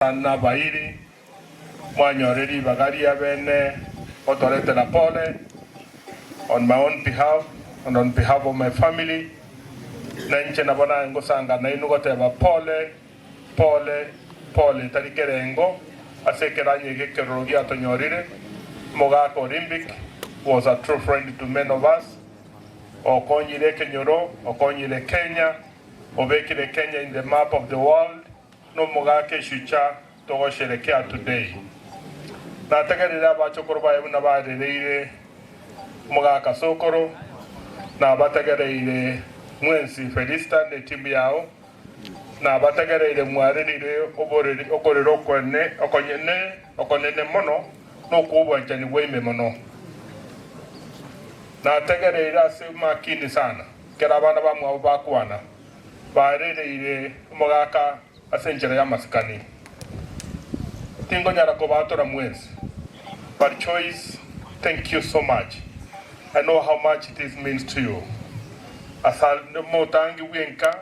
Nabairi, mwanyore ribaga ria bene gotoretera pole on my own behalf and on behalf of my family, na inche nabo naye ngosanga nainwe goteba pole, pole, pole etari kerengo ase ekeranyo eke ekeroro giatonyorire, Omogaka Olympic was a true friend to many of us, okonyire ekenyoro, okonyire Kenya, obekire Kenya in the map of the world. Nomogake Shuja togosherekea today. Nategerire abachokoro baye buna barereire omogaka sokoro nabategereire mwensi Felista ne timu yao nabategereire mwarerire oboreri okorera okone okonyene okonene mono nokwo obwanchani bwaime mono nategereire ase makini sana kera abana bamwabo bakwana Barereire omogaka ase enchera y'amasikani, Tingonyara kobaatora mwensi, but Choice thank you so much, I know how much this means to you. As'ande omotangi bw'enka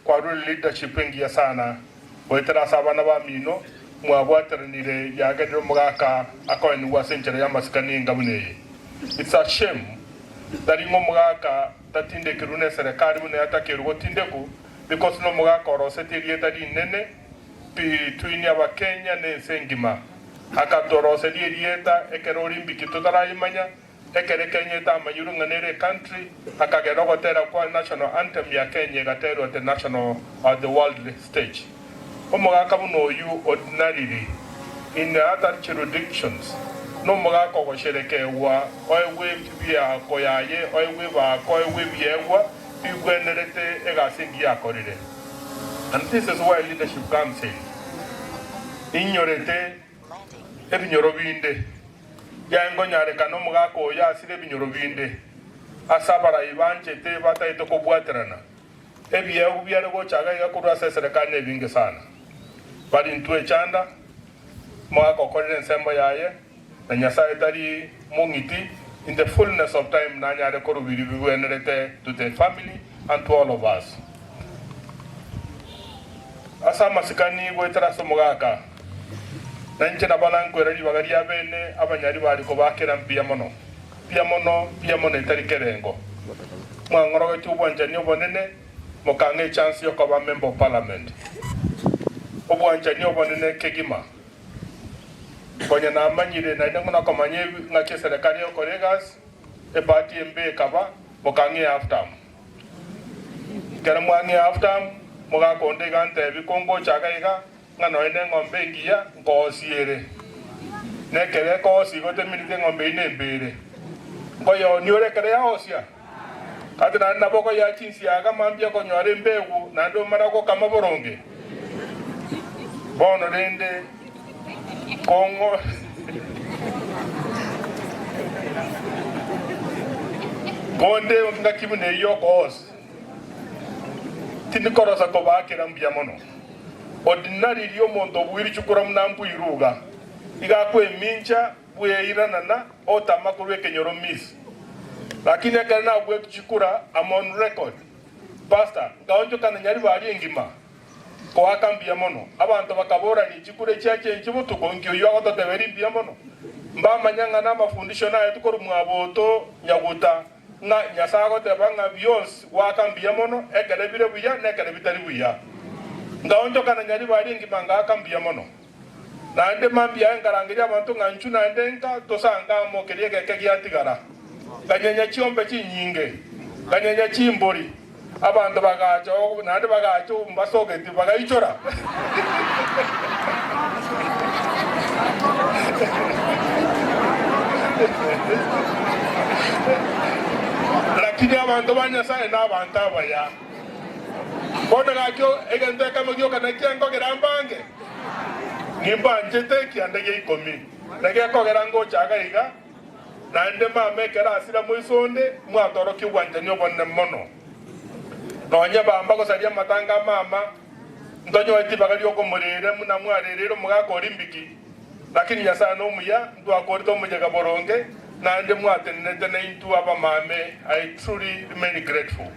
kwarure leadership engiya sana, goetera ase abana bamino mwabwateranire yagerire omogaka akoenigwa ase enchera y'amasikani enga buna eye. It's a shame that ing'o omogaka Tatindekerwe neserekari buna yatakerwe gotindekwa because nomogaka orosetie erieta rinene between abakenya na ense engima. Akatoroseria erieta ekero Olimpiki totarayemanya, ekere Kenya etamanyirwe ng'a nere ecountry, akagera ogotera kwa national anthem ya Kenya egaterwa the national or the world stage. Omogaka buna oyio ordinarily, in other juridictions, nomogaka ogosherekegwa, oegwe ebinto bi'eako yaye, oegwe ebaako, oegwe ebiegwa bigwenerete egasi engiya akorire. And this is why leadership comes in. Inyorete ebinyoro binde, yaye nkonyarekana omogaka oyio asire ebinyoro binde ase abarai banchete bataete kobwaterana. Ebiegwa biare gocha iga iga korwa ase eserekari nebinge sana. Barintwe echanda, moagokorera ensemo yaye, na Nyasaye tari mong'iti, in the fullness of time nanyare korubiri bigwenerete to the family and to all of us. Ase amasikani goetera ase omogaka, nainche nabo nankwera ribaga ria bene abanyari bari kobakera mbuya mono. Mbuya mono, mbuya mono etari kerengo. Mwang'orogetie obwanchani obonene, mokang'a echansi yokoba Member of Parliament. Obwanchani obonene kegima. Konya namanyire, naende ng'una komanya ng'aki eserekari egokora egasi, ebahati embe ekaba, mokang'a eya half term. Ekero mwang'a eya half term, mogakonda iga ntebie, kongocha iga iga, Ng'a nonya neng'ombe engiya nkoosi ere, na ekero ekoosia igo teminite eng'ombe eyio nembeire, nkoyeonia ore ekero yaosia? Gati naende nabo okoyea chinsiaga mambia konyora embegu naende omara gokama boronge? Bono rende konde engaki buna eyio okoosia. Tindikorosa kobaakera mbuya mono. Ordinary ria omonto obuiri chukura buna mbu iruga, iga akwemincha bw'eira nana otama korwa ekenyoro miss. Lakini ekero nabueti chikura am on record. Pastor, nkaonchokana Nyaribari engima. Koaka mbuya mono. Abanto bakaborania chikura echiacha enche botuko inki oyio agototeberi mbuya mono. Mbamanya ng'a namafundisho naetwe korwa mwaboto nyaguta. ng'a Nyasae agoteba ng'a bionsi goaka mbuya mono, ekero ebire buya na ekero bitari buya. Ngaonchokana nyaribari engima ngaaka mbuya mono. Naende mambia aye ngarangeria abanto ng'a nchu naende nka tosa ngamo keria egeke giatigara. Nganyenya chiombe chinyinge, nganyenya chimbori. Abanto bagacha oo, naende bagacha oo mbasogeti, bagaichora. Lakini abanto ba Nyasae nabanto abaya. Bono gaki egento ekemo gioka nekia nkogera mbange? Nimbanchete ekianda gia ikomi, na gekogera ngocha gaiga, Naende mama ekero asira moiso onde, mwatorokia obwanchani obonene mono. Nonya bamba gosaria amatanga a mama, ntonyoeti ribaga riokomoreera buna mwareereire omogaka o Rimbiki, lakini Nyasae nomuya, ntwakorete omoyega boronge, naende mwatenenete naintwe abamame, I truly remain grateful.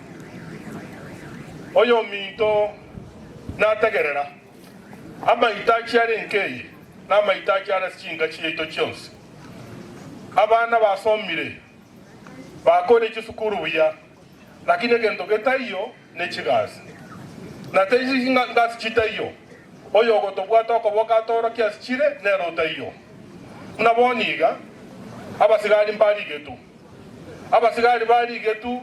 Oyominto nategerera. Amaitachi are enka eye namaitachi are ase chinka chiaito chionsi. Abana basomire, bakoire chisukuru buya, lakini egento getaiyo nechigasi. Na teiyo chingasi chitaiyo, oyogotobwata okoboko atorokie ase chire nere otaiyo. Buna bono iga, abasigari mbarigetu. Abasigari barigetu.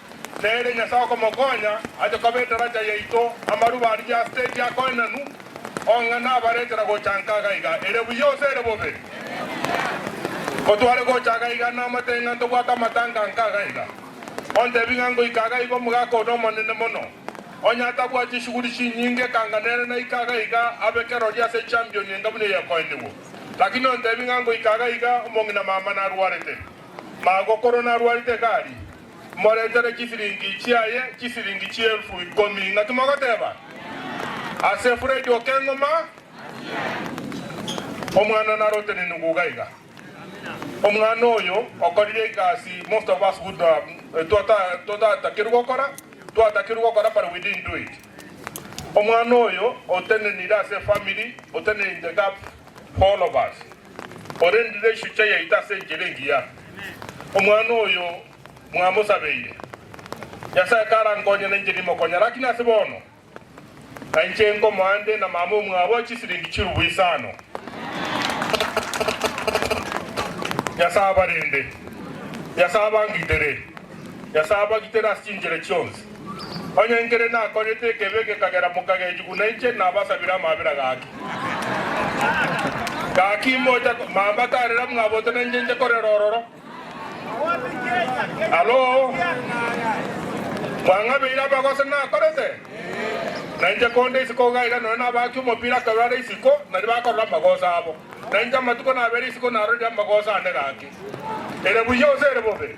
Nere Nyasae okomokonya ache koba etaracha yaito, amaruba arigie as'te ekiakoenanu, ong'e nabaretera gocha nka gaiga ere buya gose ere bobe. Ngotware gocha gaiga namate ng'a ntobwate amatanga nka gaiga. Ontebi ng'a ngoika gaiga omogaka one omonene mono, onye atabua chishughuli chinyinge ekanga nere naika gaiga abe kerori ase echampioni enga buna eyakoenigwe. Lakini ontebi ng'a ngoika gaiga omong'ina mama narwarete. Magokoro narwarete egari. Moretere chisiringi chiaye chisiringi chielfu ikomi. Ng'aki mogoteba ase Fred Okeng'uma omwana one arote ne nugu iga iga. Omwana oyo okorire egasi most of us would have totatakerwe gokora, twatakerwe gokora but we didn't do it. Omwana oyo otenenire ase efamily, otenere'nte gap. Barnabas, orendire echuche yaito ase enchera engiya. Omwana oyo mwamosabeire. Nyasae karankonye nainche nimokonye, lakini ase bono nainche nkomoa nde na mama omwabo chisiringi chirubu isano. Nyasae abarende. Nyasae abangitere. Nyasae abagitere ase chinchera chionsi. Onye nkere nakorete ekeebe gekagera mokagechigwa nainche, nabasabire amabera gaki. Gaki imbocha mamba tarera mwabote nainche nche korera ororo. Alo mwang'abeire amagoso nakorete? Nainche konde isiko ogaiga nonya nabaki omopira akarwara isiko, naria bakorora amagoso abo. Nainche amatuko nabere isiko narorire amagoso ane gaki. Ere buya ose ere bobe?